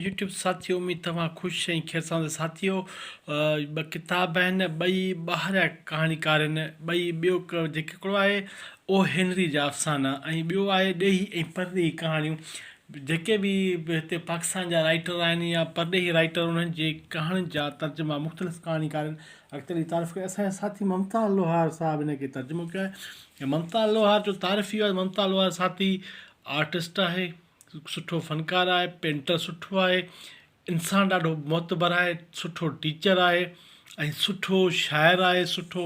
YouTube ساٿيو اميد توهان خوش ۽ خيرساند ساٿيو ٻه ڪتاب آهن ٻئي ٻاهريا ڪهاڻيڪار آهن ٻئي ٻيو جيڪي هڪڙو آهي او هينري جا افسانا ۽ ٻيو آهي ڏيهي ۽ پرڏيهي ڪهاڻيون جيڪي به هتي پاڪستان جا رائيٽر آهن يا پرڏيهي رائيٽر انهن جي ڪهاڻين جا ترجما مختلف ڪهاڻيڪارن اڳتي لي تعارف ڪيا اسان جا ساٿي ممتا لوهار صاحب هن کي ترجمو ڪيو آهي ممتا لوهار جو تعارف اهو آهي ممتا لوهار ساٿي آرٽسٽ آهي سٺو فنڪار آهي پينٽر سٺو آهي انسان ڏاڍو معتبر آهي سٺو ٽيچر آهي ۽ سٺو شاعر آهي سٺو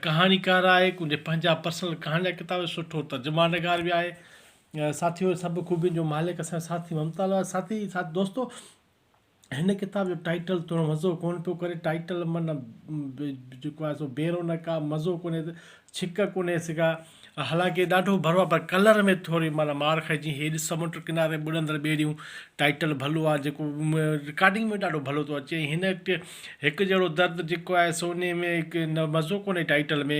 ڪهاڻيڪار آهي ڪنهنجا پنهنجا پرسنل ڪهاڻي جا ڪتاب سٺو ترجما نگار بي آهي ساٿيو سڀ خوبين جو مالڪ اسان ساٿي ممتاز آهي ساٿي ساٿ دوستو هن ڪتاب جو ٽائيٽل توڻي مزو ڪونه پيو ڪري. ٽائيٽل معنيٰ جيڪو آهي سو بي رونق آهي، مزو ڪونهي، ڇڪ ڪونهي سگا. حالانڪه ڏاڍو ڀرو آهي پر ڪلر ۾ ٿوري معنيٰ مار کائي جيئن هي ڏس سمنڊ ڪناري ٻڏندڙ ٻيڙيون. ٽائيٽل ڀلو آهي جيڪو رڪارڊنگ ۾ ڏاڍو ڀلو ٿو اچي ۽ هن هڪ جهڙو درد جيڪو آهي سو انهي ۾ مزو ڪونهي ٽائيٽل ۾.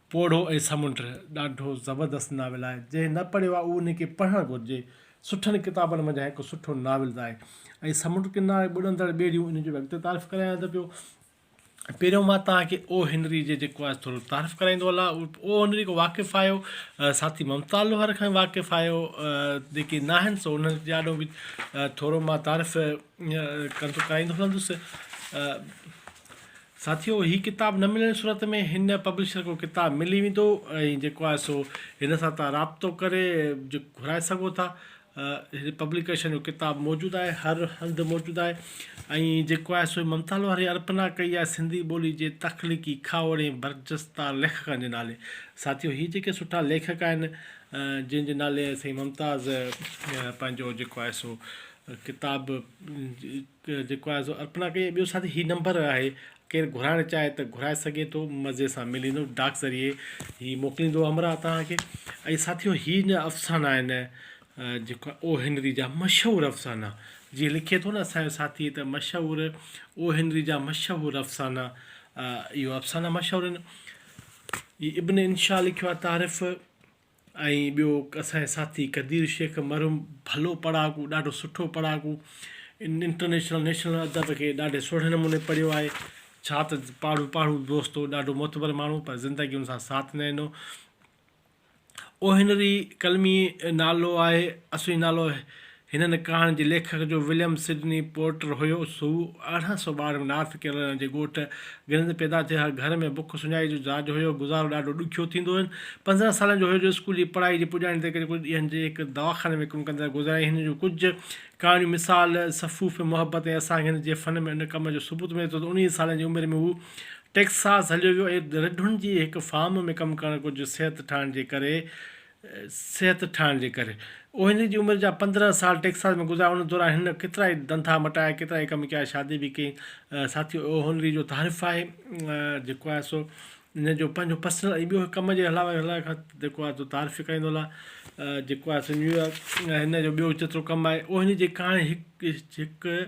پوڙهو ۽ سمنڊ ڏاڍو زبردست ناول آهي جنهن نه پڙهيو آهي اهو ان کي پڙهڻ گهرجي سٺن ڪتابن منجهان هڪ سٺو ناول آهي ۽ سمنڊ ڪناري ٻڏندڙ ٻيڙيون ان جو به اڳتي تعارف ڪرايان ته پيو پهريون مان توهان کي او هنري جي جيڪو آهي ٿورو تعارف ڪرائيندو هلان او هنري کان واقف آهيو ساٿي ممتا لوهر کان واقف آهيو جيڪي نه آهن سو انهن جي آڏو به ٿورو مان تعارف ڪندو ڪرائيندو هلندس ساٿيو هي ڪتاب نه ملڻ صورت ۾ هن پبلشر کان ڪتاب ملي ويندو ۽ جيڪو آهي سو هن سان تان رابطو ڪري گهرائي سگهو ٿا هن پبليڪيشن جو ڪتاب موجود آهي هر هنڌ موجود آهي ۽ جيڪو آهي سو ممتا لوهاري ارپنا ڪئي آهي سنڌي ٻولي جي تخليقي کاهوڙي ۽ برجستا ليکڪن جي نالي ساٿيو هي جيڪي سٺا ليکڪ آهن جن جي نالي سائين ممتاز پنهنجو جيڪو آهي سو ڪتاب جيڪو آهي سو ارپنا ڪئي ٻيو ساٿي هي نمبر آهي ڪير گهرائڻ چاهي ته گهرائي سگهي ٿو مزي سان ملي ويندو ڊاڪ ذريعي هي موڪليندو همراهه توهان کي ۽ ساٿيو هي نه افسانا آهن جيڪو او هنري جا مشهور افسانا جي لکي ٿو نه اسانجو ساٿي ته مشهور او هنري جا مشهور افسانا اهو افسانا مشهور آهن هي ابن انشا لکيو آهي تعارف ۽ ٻيو اسان جي ساٿي قدير شيخ مرحوم ڀلو پڙهاڪو ڏاڍو سٺو پڙهاڪو انٽرنيشنل نيشنل ادب کي ڏاڍي سهڻي نموني پڙهيو آهي ڇا ته پاڙهو پاڙهو دوست هو ڏاڍو معتبر ماڻهو پر زندگي هن سان ساٿ نه ڏنو اوهنري قلمي نالو آهي اصلي نالو هنن ڪهاڻين جي ليکڪ جو وليم سڊني پورٽر هيوس هو ارڙهن سؤ ٻارهن ۾ نارٿ ڪيرولائنا جي ڳوٺ گرين ۾ پيدا ٿيو هر گهر ۾ بک سڃائي جو جاج هيو گذارو ڏاڍو ڏکيو ٿيندو هين پنڌرهن سالن جو هيو جو اسڪول جي پڙهائي جي پڄاڻي تي ڪري ڪجهه ڏينهن جي هڪ دواخاني ۾ ڪم ڪندڙ گذاريائين هن جون ڪجهه ڪهاڻيون مثال صفوف محبت ۽ اسانگ هند جي فن ۾ ان ڪم جو ثبوت ملي ٿو ته انهيء سالن جي عمر ۾ هو ٽيڪساس هليو ويو ۽ رڍن جي هڪ فارم ۾ ڪم ڪرڻ ڪجهه صحت ٺاهڻ جي ڪري صحت ٺاهڻ جي ڪري اهو هن جي عمر جا پندرهن سال ٽيڪساس ۾ گذاريا ان دوران هن ڪيترائي ڌنڌا مٽايا ڪيترائي ڪم ڪيا شادي به ڪئي ساٿيو اهو هنري جو تعارف آهي جيڪو آهي سو ان جو پنهنجو پرسنل ۽ ٻيو ڪم جي علاوه هلائڻ کان جيڪو آهي سو تعارف ئي ڪرائيندو هلان جيڪو آهي سو نيويارڪ هن جو ٻيو جيترو ڪم آهي اهو هن جي ڪهاڻي هڪ هڪ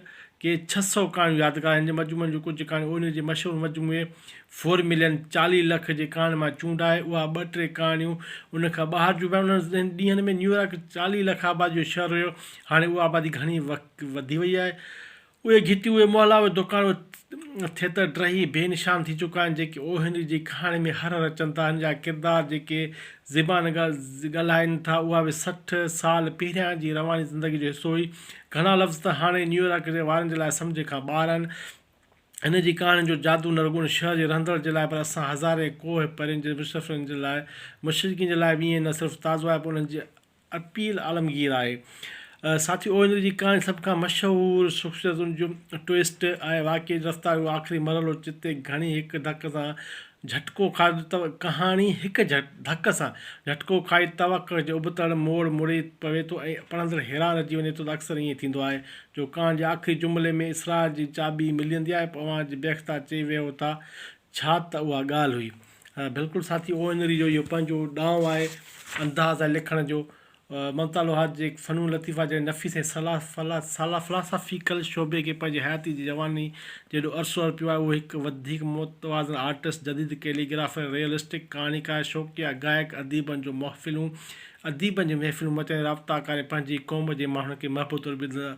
ڪي ڇهه سؤ ڪهاڻيون يادگار آهن جن مجموعن جون ڪجهه ڪهاڻيون اهو هن جي مشهور مجموعي فور ملين، چاليهه لک، جي ڪهاڻين مان چونڊائي اها ٻه ٽي ڪهاڻيون ان کان ٻاهر جون به آهن. انهن ڏينهن ۾ نيويارڪ چاليهه لک آباديء جو شهر هيو. هاڻي اها آبادي گهڻي وڌي وئي آهي. اهي گهٽيون، اهي محلا، اهي دوڪان، اهي ٿيتر ڊهي بي نشان ٿي چڪا آهن، جيڪي او هينري جي ڪهاڻين ۾ هر هر اچن ٿا. هن جا ڪردار جيڪي زبان ڳالهائين ٿا، اها به سٺ سال پهريان جي رواني زندگيء جو حصو هئي. گهڻا لفظ ته هاڻي نيويارڪ وارن جي لاء سمجهه کان ٻاهر آهن. هن جي ڪهاڻين جو جادو نه رڳو ان شهر جي رهندڙن جي لاء پر اسان هزارين ڪوهه پرين جي مسفرن جي لاء مشرقين جي لاء به ائين نه صرف تازو آهي پر انهن جي اپيل عالمگير آهي. ساٿيو اوهين جي ڪهاڻي سڀ کان مشهور شخصيتن جو ٽوئسٽ آهي واقعي جي رفتار جو آخري مرحلو جتي گهڻي هڪ ڌڪ سان جهٽڪو کائي توء ڪهاڻي هڪ ڌڪ سان جهٽڪو کائي توڪ جي ابتڙ موڙ مڙي پوي ٿو ۽ پڙهندڙ حيران رهجي وڃي ٿو ته اڪثر ائين ٿيندو آهي جو ڪهاڻي جي آخري جملي ۾ اسرار جي چاٻي ملي ويندي آهي پوء اوهان بي اختيار چئي ويهو ٿا ڇا ته اها ڳالهه هئي. بلڪل ساٿي او اين ري جو اهو پنهنجو ڏانء آهي انداز آهي لکڻ جو ممتا لوهار جي فنون لطيفه جهڙي نفيس ۽ سالافلاسافيڪل شعبي کي پنهنجي حياتي جي جواني جيڏو عرصو ارپيو آهي، اهو هڪ وڌيڪ متوازن آرٽسٽ، جديد ڪيلي گرافر، ريئلسٽڪ ڪهاڻيڪار، شوقيا گائڪ، اديبن جون محفلون اديبن جون محفلون مچائيندي رابطا ڪاري پنهنجي قوم جي ماڻهن کي محبوب طور به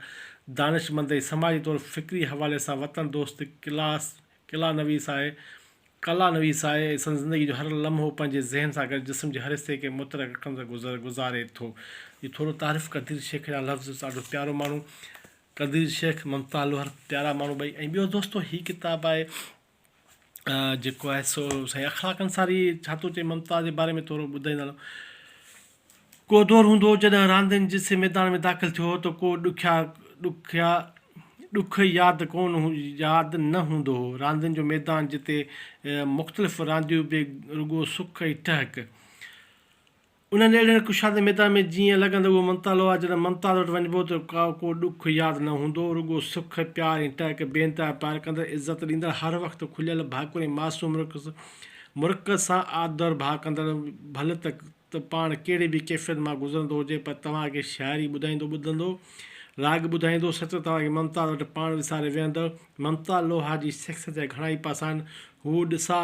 دانشمند ۽ سماجي طور فڪري حوالي سان وطن دوست ڪلاس قلعه نويس آهي. قلعه نويس آهي ۽ سندس زندگي جو هر لمحو پنهنجي ذهن سان گڏ جسم جي هر حصي کي مترڪ اکن سان گذر گذاري ٿو. جي ٿورو تعارف قدير شيخ جا لفظ ڏاڍو پيارو ماڻهو قدير شيخ ممتا لوهر پيارا ماڻهو ٻئي ۽ ٻيو دوستو هي ڪتاب آهي جيڪو آهي سو سائين اخلاق انصاري ڇا ٿو چئي ممتا جي باري ۾ ٿورو ٻڌائيندڙ ڪو دور هوندو هو جڏهن راندين جسي ميدان ۾ داخل ٿيو هو ته ڪو ڏکيا ڏکيا ڏک ياد ڪونه ياد نه هوندو هو. راندين جو ميدان جتي مختلف رانديون به رڳو سڪ ۽ ٽهڪ. انهن اهڙين ڪشادي ميدان ۾ جيئن لڳن ته اهو ممتال هو آ جڏهن ممتال وٽ وڃبو ته ڪا ڪو ڏک ياد نه هوندو هو رڳو سک، پيار ۽ ٽهڪ بي انتها پيار ڪندڙ عزت ڏيندڙ هر وقت کليل ڀاڪر ۽ معصوم مرڪز مرڪز سان آڌر ڀاء ڪندڙ ڀل ته ته پاڻ ڪهڙي به ڪيفيت مان گذرندو هجي پر توهان کي شاعري ٻڌائيندو ٻڌندو، راڳ ٻڌائيندو، سچ توهان کي ممتاز وٽ پاڻ وساري ويهندڙ ممتاز لوهار جي شخصيت جا گهڻا ئي پاسا آهن. هو ڏساء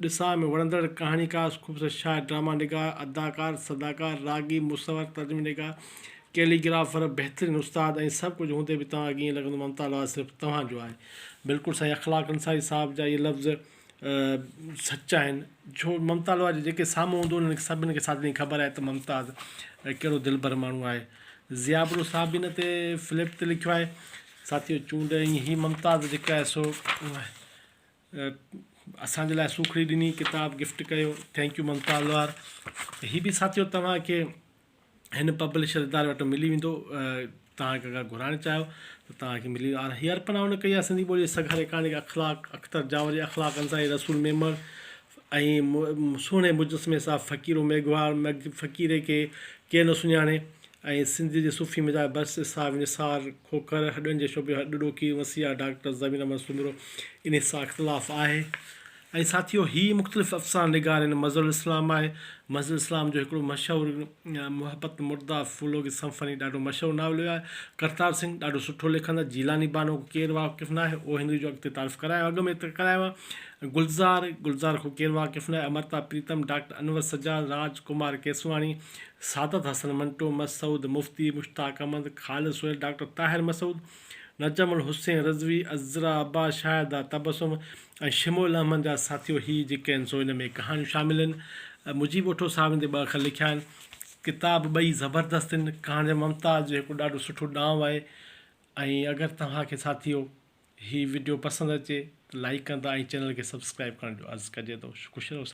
ڏساء ۾ وڻندڙ ڪهاڻيڪار، خوبصورت شاعر، ڊراما نگار، اداڪار، صداڪار، راڳي، مصور، ترجمي نگار، ڪيلي گرافر، بهترين استاد ۽ سڀ ڪجهه هوندي به توهان کي ائين لڳندو ممتاز لوهار صرف توهان جو آهي. بلڪل سائين اخلاق انصاري صاحب جا اهي لفظ. سچ آهن ڇو ممتا لاء جيڪي سامهون هوندو انهن کي سڀني کي ساري خبر آهي ته ممتاز ڪهڙو دلبر ماڻهو آهي ضياء بلوچ صاحب هن تي فلپ تي لکيو آهي ساٿيو چونڊ ۽ هي ممتاز جيڪا آهي سو اسانجي لاء سوکڙي ڏني ڪتاب گفٽ ڪيو ٿينڪ يو ممتاز لوهار هي به ساٿيو توهان کي هن پبلشر اداري وٽ ملي ويندو توهان کي اگر گهرائڻ چاهيو ته توهان کي ملي ويندو هي ارپنا هن ڪئي آهي سنڌي ٻولي جي سگهاري ڪهاڻي کي اخلاق اختر جاوري اخلاق انصاري رسول ميمڻ ۽ سهڻي مجسمي صاحب فقيرو ميگهواڙ فقيري کي ڪير نه سڃاڻي ۽ سنڌ جي صوفي مزاج برس اسحاق نثار کوکر هڏن جي شعبي هڏ ڏوکي وسيع ڊاڪٽر زمين احمد سومرو انهي سان اختلاف آهي ۽ ساٿيو هي مختلف افسانه نگارين مظهر الاسلام آهي. مظهر الاسلام جو هڪڙو مشهور محبت مرده فولوگي سمفني ڏاڍو مشهور ناول ويو آهي. ڪرتار سنگهه ڏاڍو سٺو لکندڙ جيلاني بانو کي ڪير واقف ناهي اهو هندي جو اڳ تي تعارف ڪرايو اڳ ۾ ڪرايو آهي. گلزار گلزار کان ڪير واقف ناهي امرتا پريتم ڊاڪٽر انور سجاد راج ڪمار ڪيسواڻي سعادت حسن منٽو مسعود مفتي مشتاق احمد خالد سهيل ڊاڪٽر طاهر مسعود نجم الحسين رضوي، عذرا عباس، شاهده تبسم ۽ شمع الاحمد جا ساٿيو هي جيڪي آهن سو ان ۾ ڪهاڻيون شامل آهن. مجيب اٺو صاحب ان تي ٻه اکر لکيا آهن. ڪتاب ٻئي زبردست آهن. ڪهاڻي ممتاز جو هڪڙو ڏاڍو سٺو ڏانء آهي ۽ اگر توهان کي ساٿيو هي وڊيو پسند اچي ته لائيڪ ڪندا ۽ چينل کي سبسڪرائيب ڪرڻ جو عرض ڪجي ٿو. خوش رهو ساٿيو.